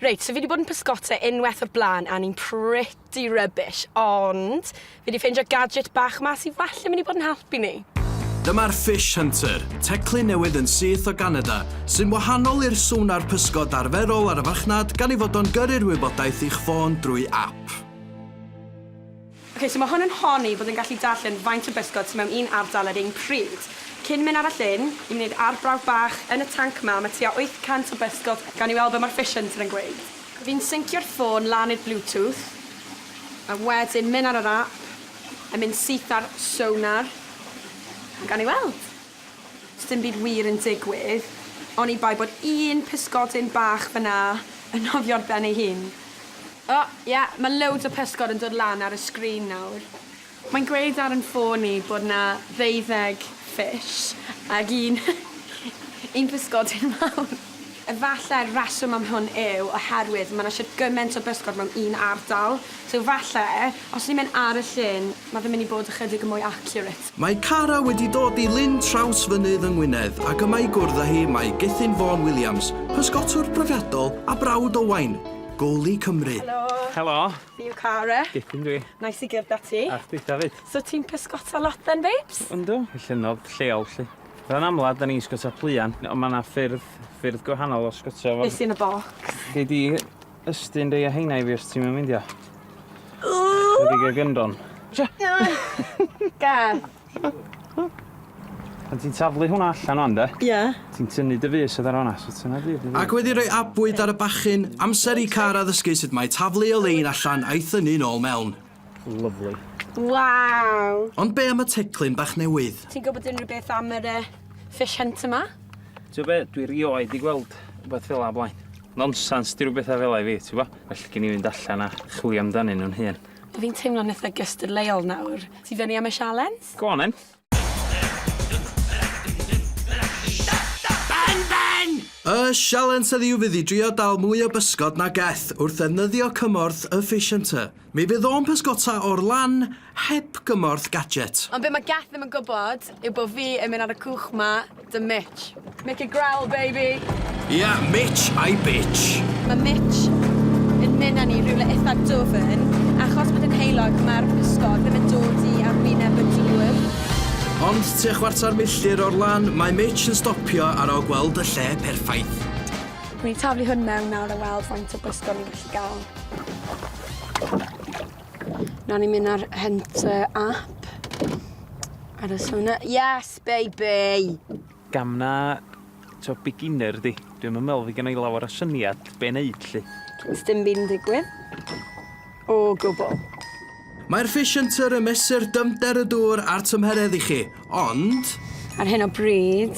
Reit, so fi 'di bod yn pysgota unwaith o'r blaen a ni'n pretty rubbish, ond fi 'di ffeindio gadget bach 'ma sy falle mynd i bod yn helpu ni. Dyma'r Fish Hunter, teclyn newydd yn syth o Ganada, sy'n wahanol i'r sonar pysgod arferol ar y farchnad gan ei fod o'n gyrru'r wybodaeth i'ch ffôn drwy ap. Ok, so mae hwn yn honni bod yn gallu darllen faint o bysgod sy mewn un ardal ar un pryd. Cyn mynd arall Lyn, i mynd i'r arbrawf bach, yn y tanc ma, mae tua 800 o bysgod, gawn ni weld be mae'r fish hunter yn gweud. Fi'n syncio'r ffôn lan i'r bluetooth, a wedyn mynd ar yr app, a mynd syth ar sonar, a gawn ni weld. Sdim byd wir yn digwydd, oni bai bod un pysgodyn bach fan'na yn nofio'r ben ei hun. O, ie, mae loads o pysgod yn dod lan ar y sgrin nawr. Mae'n gweud ar 'yn ffôn i bod 'na ddeuddeg fish ag un un pysgodyn mawr. Efallai'r rheswm am hwn yw oherwydd mae 'na isio gymaint o bysgod mewn un ardal. So falle, os ni'n mynd ar y llyn, mae fe'n mynd i bod ychydig yn mwy accurate. Mae Cara wedi dod i Lyn Trawsfynydd yng Ngwynedd ac yma i gwrdd â hi mae Gethin Vaughan Williams, pysgotwr profiadol a brawd Owain, goalie Cymru. Helo! Helo! Fi yw Cara. Gethin dwi. Neis i gyrdd â ti. A chdi 'fyd. So ti'n pysgota lot then babes? Yndw, y llynnodd lleol 'lly. Fel amlaf, da ni'n sgwtio pluan, ond mae yna ffyrdd, ffyrdd gwahanol o sgwtio fo. Be sy'n y bocs? Gei di ystyn rei o heina i fi os ti'm yn meindio. Ychydig o gyndron. Cia! Gad! Pan ti'n taflu hwnna allan wan de... Ie. ...ti'n tynnu dy fys oddi ar fan'na, so tynna dy fys. Ac wedi rhoi abwyd ar y bachyn, amser i Cara ddysgu sut mae taflu o lein allan a'i thynnu nôl mewn. Lovely. Waw! Ond be am y teclyn bach newydd? Ti'n gwybod unrhyw beth am yr uh, fish hunt yma? Ti'n be, dwi rioed i gweld rhywbeth fel o blaen. Nonsens, di rhywbeth fel i fi, ti'n bo? Felly gen i fynd allan a chwilio amdanyn nhw'n hun. Fi'n teimlo'n eitha gystadleuol nawr. Ti fyny am y sialens? Go on then. Ben, Ben! Y sialens heddiw fydd i drio dal mwy o bysgod na gell wrth ddefnyddio cymorth y Fish Hunter. Mi fydd o'n pysgota o'r lan heb gymorth gadget. Ond be' ma' gell ddim yn gwbod yw bo' fi yn myn' ar y cwch 'ma Dy Mitch. Make it growl, baby! Ia, Mitch a'i bitch! Mae Mitch yn mynd â ni rhywle eitha dwfn. Achos bod yn heulog, mae'r pysgod ddim yn dod i arwyneb y dŵr. Ond tua chwarter milltir o'r lan, mae Mitch yn stopio ar ol gweld y lle perffaith. Dwi'n mynd i taflu hwn mewn nawr a weld faint o bysgod ni'n gallu gael. Nawr ni'n mynd ar Hunter app. Aros hwnna. Yes! Bye bye! Gam na, t'o' beginner 'di. Dwi 'im yn me'wl fy' gynna' i lawer o syniad be' neud 'lly. Sdim byn digwydd. O gwbwl. Mae'r Fish Hunter yn mesur dyfnder y dŵr a'r tymheredd i chi, ond... Ar hyn o bryd,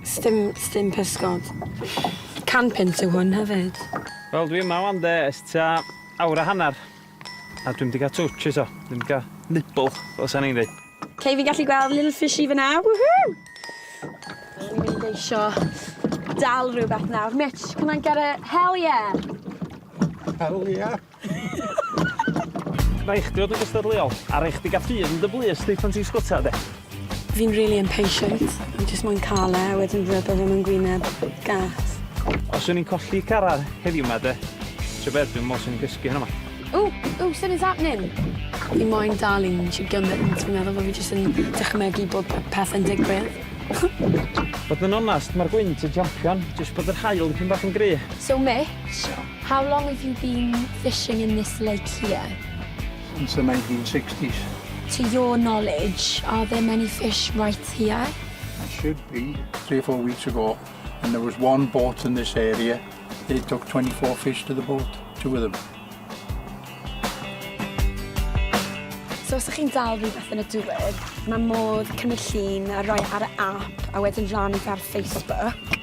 sdim, sdim pysgod. Can punt yw hwn hefyd. Wel dwi yma 'wan 'de ers tua awr a hannar. A dwi'm 'di cael twtsh eto. Dwi'm 'di cael nibble, fel sa'n i'n dweud. OK, fi'n gallu gweld little fishy fyna. Woohoo! O'n i'n mynd eisio dal rhywbeth nawr. Mitch, can I get a hell yeah? Hell yeah. Rhaid chdi fod yn gystadleuol, a rhaid chdi gael ffydd yn dy blys di pan ti'n sgwtio, de. Fi'n rili impatient. Fi jyst moyn ca'l e a wedyn rwbeth yn fy ngwyneb. Gas. Os o'n i'n colli car ar heddiw ma de. Tybed dwi'n mos yn gysgu heno ma. Ooh, ooh, son is happening. Fi moyn dal un chi gymaint. Fi'n meddwl bod fi jyst yn dychmygu bod peth yn digwydd. Bod yn onast, mae'r gwynt yn champion, jyst bod yr haul yn pyn bach yn gry. So Mitch, how long have you been fishing in this lake here? since the 1960s. To your knowledge, are there many fish right here? There should be. Three or four weeks ago, and there was one boat in this area. They took 24 fish to the boat, two of them. So os ydych chi'n dal rhywbeth yn y dŵr, mae modd cymryd llun a rhoi ar y app a wedyn rhan ar Facebook.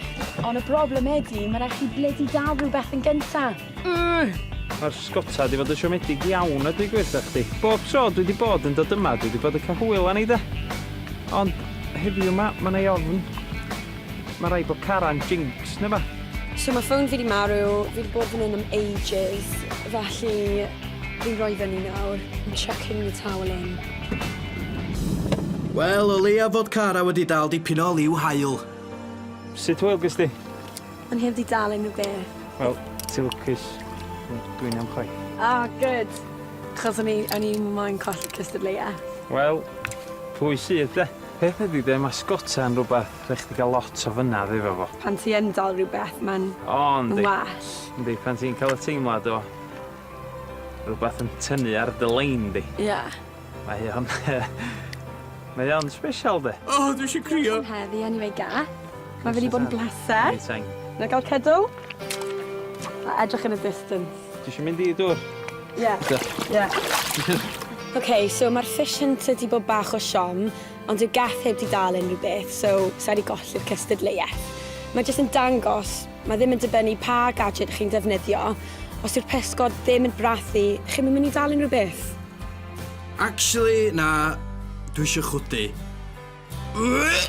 Ond y broblem ydy, mae rhaid chi bledi dal rhywbeth yn gyntaf. Mae'r sgota wedi bod yn siomedig iawn a dwi'n gweithio chdi. Bob tro dwi wedi bod yn dod yma, dwi wedi bod yn cael hwyl â ni de. Ond heddiw yma, mae yna ei ofn. Mae rai bod caran jinx neu ba. So mae ffôn fi wedi marw, fi wedi bod fan hyn am ages, felly fi'n rhoi fyny nawr. I'm chucking the towel in. Wel, o leia fod cara wedi dal dipyn o liw haul. Sut hwyl gys di? O'n i heb di dal unrhyw beth. Wel, ti'n lwcus. Dwi'n iawn chwaith. Ah, good! Achos o'n i, o'n i moyn colli cystadleuaeth. Wel, pwy sydd de? Peth ydi de, ma' sgota yn rwbath rhaid chdi ga'l lot o fynnadd efo fo. Pan ti yn dal rwbeth ma'n... O yndi. ...ma'n well. Yndi, pan ti'n ca'l y teimlad o rwbath yn tynnu ar dy lein di. Ie. Mae hi on mae hi on special de. O dwi isio crio. Diolch am heddi anyway Gath. Ma' fe 'di bod yn bleser. Anytime. Na'i ga'l cydw? A edrych yn y distance. Ti isio mynd i dwr? Ie. Oce. Ie. Ok, so ma'r fish yn tydi bod bach o siom, ond dyw Gath heb 'di dal unrhyw beth, so sai 'di golli'r cystadleuaeth. Mae jyst yn dangos Mae ddim yn dibynnu pa gadget chi'n defnyddio, os yw'r pysgod ddim yn brathu, chi'm yn mynd i dal unrhyw beth. Actually, na, dwi eisiau chwydu. Ugh!